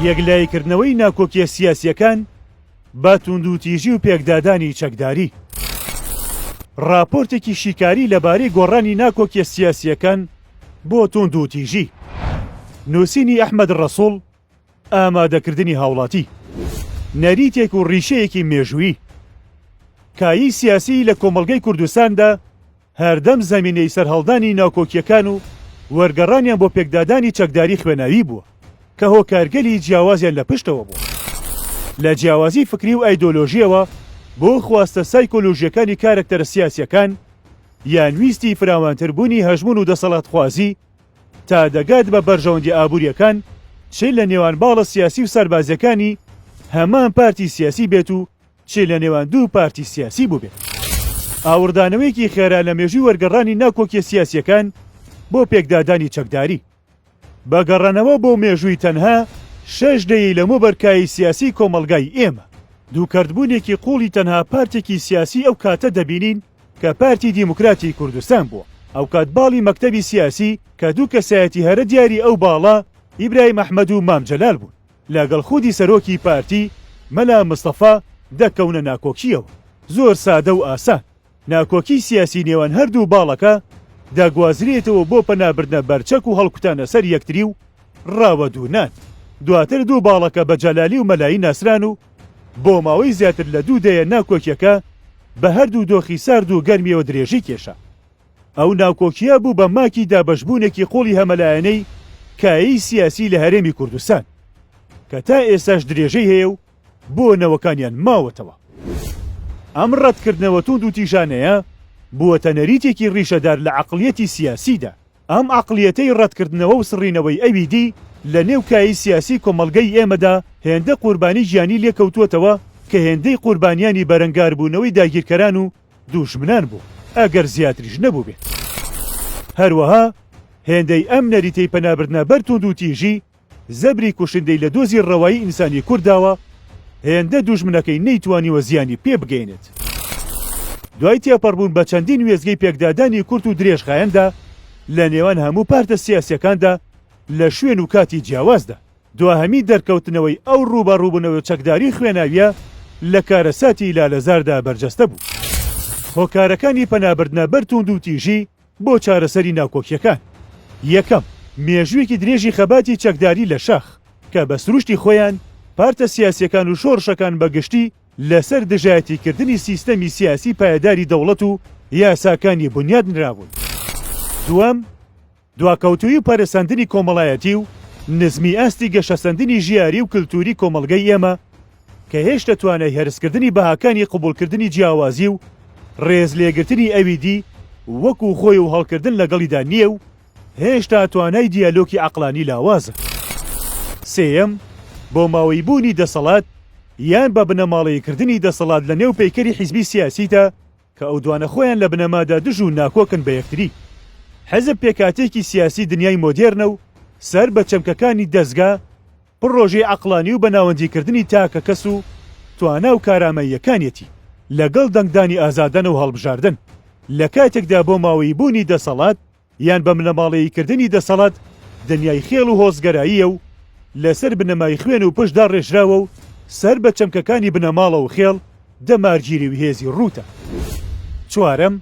یەکلاییکردنەوەی ناکۆکیە سیاسیەکان بە توندوتیژی و پێکدادانی چەکداری. ڕاپۆرتێکی شیکاری لەبارەی گۆڕانی ناکۆکیە سیاسیەکان بۆ توندوتیژی. نووسینی ئەحمەد ڕەسوڵ ئامادەکردنی هاوڵاتی. نەریتێک و ڕیشەیەکی مێژوویی. کایەی سیاسیی لە کۆمەڵگەی کوردستاندا، هەردەم زەمینەی سەرهەڵدانی ناکۆکییەکان و وەرگەڕانیان بۆ پێکدادانی چەکداری خوێناوی بووە کە هۆکارگەلی جیاوازیان لە پشتەوە بووە لە جیاوازی فکری و ئایدۆلۆژییەوە بۆ خواستە سایکۆلۆژییەکانی کارەکتەرە سیاسییەکان یان ویستی فراوانتر بوونی هەژموون و دەسەڵاتخوازی تا دەگات بە بەرژەوەندیە ئابوورییەکان چ لە نێوان باڵە سیاسی و سەربازییەکانی هەمان پارتی سیاسی بێت و چی لە نێوان دوو پارتی سیاسی بووبێت ئاوڕدانەوەیەکی خێرا لە مێژووی وەرگەڕانی ناکۆکیە سیاسیەکان بۆ پێکدادانی چەکداری. بە گەڕانەوە بۆ مێژووی تەنها شەش دەیەی لەمەوبەر کایەی سیاسی کۆمەڵگای ئێمە، دووکەرتبوونێکی قوڵی تەنها پارتێکی سیاسی ئەو کاتە دەبینین کە پارتی دیموکراتی کوردستان بووە، ئەوکات باڵی مەکتەبی سیاسی کە دوو کەسایەتی هەرە دیاری ئەو باڵە ئیبراهیم ئەحمەد و مام جەلال بوون. لەگەڵ خودی سەرۆکی پارتی مەلا مستەفا دەکەونە ناکۆکییەوە. زۆر سادە و ئاسان، ناکۆکیی سیاسی نێوان هەردوو باڵەکە دەگوازرێتەوە بۆ پەنابردنە بەر چەک و هەڵکوتانە سەر یەکتری و ڕاوەدوونان. دواتر دوو باڵەکە بە جەلالی و مەلایی ناسران و بۆ ماوەی زیاتر لە دوو دەیە ناکۆکییەکە بە هەردوو دۆخی سارد و گەرمییەوە درێژی کێشا. ئەو ناکۆکییە بوو بە ماکی دابەشبوونێکی قووڵی هەمەلایەنەی کایەی سیاسی لە هەرێمی کوردستان کە تا ئێستاش درێژەی هەیە و بۆ نەوەکانیان ماوەتەوە. ئەم ڕەتکردنەوە توند و تیژانەیە بووەتە نەریتێکی ڕیشەدار لە عەقڵیەتی سیاسیدا. ئەم عەقڵیەتەی ڕەتکردنەوە و سڕینەوەی ئەویدی لە نێو کایەی سیاسی کۆمەڵگەی ئێمەدا هێندە قوربانی گیانی لێکەوتووەتەوە کە هێندەی قوربانیانی بەرەنگاربوونەوەی داگیرکەران و دوژمنان بوو ئەگەر زیاتریش نەبووبێت. هەروەها هێندەی ئەم نەریتەی پەنابردنە بەر توندوتیژی، زەبری کوشندەی لە دۆزی ڕەوایی ئینسانی کورد داوە، هێندە دوژمنەکەی نەیتوانیوە زیانی پێ بگەیەنێت. دوای تێپەڕبوون بە چەندین وێستگەی پێکدادانی کورت و درێژخایەندا لە نێوان هەموو پارتە سیاسییەکاندا لە شوێن و کاتی جیاوازدا، دواهەمین دەرکەوتنەوەی ئەو ڕووبەڕووبوونەوە چەکداری خوێناوییە لە کارەساتی لالەزاردا بەرجەستە بوو. هۆکارەکانی پەنابردنە بەر تووندوتیژی بۆ چارەسەری ناکۆکییەکان، یەکەم، مێژوویەکی درێژی خەباتی چەکداری لە شاخ، کە بە سروشتی خۆیان پارتە سیاسییەکان و شۆڕشەکان بە گشتی لەسەر دژایەتیکردنی سیستەمی سیاسی پایەداری دەوڵەت و یاساکانی بونیاد نرابوون. دووەم، دواکەوتوویی و پەرەسەندنی کۆمەڵایەتی و نزمی ئاستی گەشەسەندنی ژیاری و کلتووری کۆمەڵگەی ئێمە کە هێشتە توانای هەرسکردنی بەهاکانی قبوڵکردنی جیاوازی و ڕێز لێگرتنی ئەوی دی وەکوو خۆی و هەڵکردن لەگەڵیدا نییە و هێشتا توانای دیالۆکی عەقڵانی لاوازە. سێیەم، بۆماوەیی بوونی دەسەڵات یان بە بنەماڵەیی کردنی دەسەڵات لە نێو پەیکەری حیزبی سیاسیدا کە ئەو دوانە خۆیان لە بنەمادا دژ و ناکۆکن بە یەکتری. حزب پێکهاتەیەکی سیاسی دنیای مۆدێرنە و سەر بە چەمکەکانی دەزگا، پڕۆژەی عەقڵانی و بەناوەندیکردنی تاکە کەس و توانا و کارامەییەکانیەتی لەگەڵ دەنگدانی ئازادانە و هەڵبژاردن، لە کاتێکدا بۆ ماوەیی بوونی دەسەڵات، یان بە بنەماڵەیی کردنی دەسەڵات دنیای خێڵ و هۆزگەراییە و لەسەر بنەمای خوێن و پشت داڕێژراوە و سەر بە چەمکەکانی بنەماڵە و خێڵ دەمارگیری و هێزی ڕووتە. چوارەم،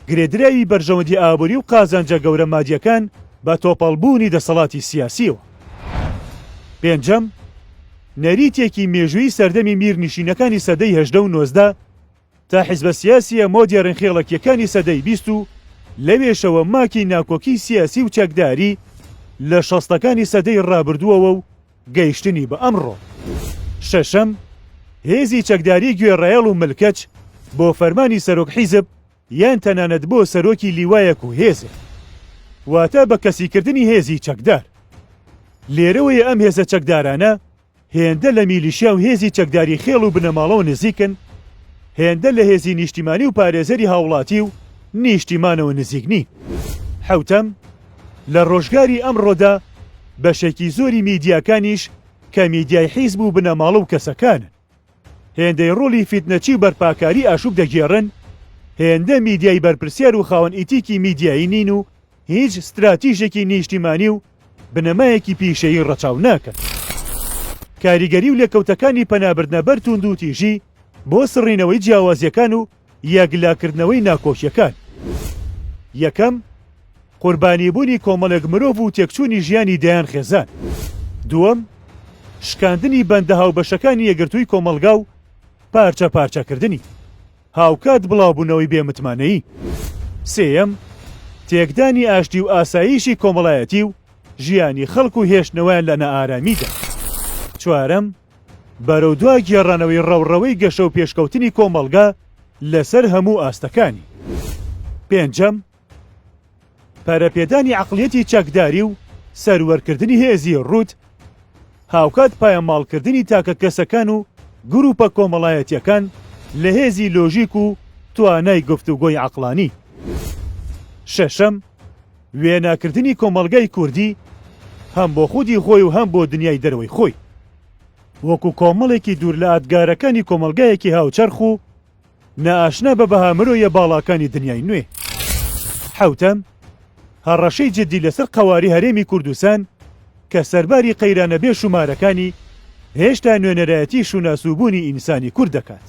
گرێدراوی بەرژەوەندی ئابووری و قازانجە گەورە مادیەکان بە تۆپەڵ بوونی دەسەڵاتی سیاسیەوە. پێنجەم، نەریتێکی مێژووی سەردەمی میرنشینەکانی سەدەی هەژدە و نۆزدە، تا حیزبە سیاسییە مۆدێڕن خێڵەکییەکانی سەدەی بیست و لەوێشەوە ماکی ناکۆکیی سیاسی و چەکداری لە شەستەکانی سەدەی ڕابردووەوە و گەیشتنی بە ئەمڕۆ. شەشەم، هێزی چەکداریی گوێڕایەڵ و ملکەچ بۆ فەرمانی سەرۆک حیزب یان تەنانەت بۆ سەرۆکی لیوایەک و هێزێک. واتە بە کەسیکردنی هێزی چەکدار. لێرەوەیە ئەم هێزە چەکدارانە، هێندە لە میلیشیا و هێزی چەکداری خێڵ و بنەماڵەوە نزیکن، هێندە لە هێزی نیشتیمانی و پارێزەری هاوڵاتی و نیشتیمانەوە نزیک نین. حەوتەم، لە ڕۆژگاری ئەمڕۆدا بەشێکی زۆری میدیاکانیش کە میدیای حیزب و بنەماڵە و کەسەکانن، هێندەی ڕۆڵی فیتنەچی و بەرپاکاری ئاشوب دەگێڕن، هێندە میدیای بەرپرسیار و خاوەن ئیتیکی میدیایی نین و هیچ ستراتیژێکی نیشتیمانی و بنەمایەکی پیشەیی ڕەچاو ناکەن. کاریگەری و لێکەوتەکانی پەنابردنە بەر تووندوتیژی بۆ سڕینەوەی جیاوازیەکان و یەکلاکردنەوەی ناکۆکیەکان یەکەم، قوربانی بوونی کۆمەڵێک مرۆڤ و تێکچوونی ژیانی دەیان خێزان. دووەم، شکاندنی بەندە هاوبەشەکانی یەکگرتووی کۆمەڵگا و پارچە پارچە کردنی. هاوکات بڵاوبوونەوەی بێ متمانەیی. سێیەم، تێکدانی ئاشتی و ئاساییشی کۆمەڵایەتی و ژیانی خەڵک و هێشتنەوەیان لە نائارامیدا. چوارەم، بەرەودوا گێڕانەوەی ڕەوڕەوەی گەشە و پێشکەوتنی کۆمەڵگە لەسەر هەموو ئاستەکانی. پێنجەم، پەرەپێدانی عەقڵیەتی چەکداری و سەروەرکردنی هێزی ڕووت، هاوکات پایەماڵکردنی تاکە کەسەکان و گرووپە کۆمەڵایەتییەکان لە هێزی لۆژیک و توانای گفتوگۆی عەقڵانی. شەشەم، وێناکردنی کۆمەڵگای کوردی هەم بۆ خودی خۆی و هەم بۆ دنیای دەرەوەی خۆی وەکو کۆمەڵێکی دوور لە ئادگارەکانی کۆمەڵگایەکی هاوچەرخ و نائاشنا بە بەها مرۆیە باڵاکانی دنیای نوێ. حەوتەم، هەڕەشەی جدی لەسەر قەواری هەرێمی کوردستان کە سەرباری قەیرانە بێ شومارەکانی هێشتا نوێنەرایەتی شوناس و بوونی ئینسانی کورد دەکات.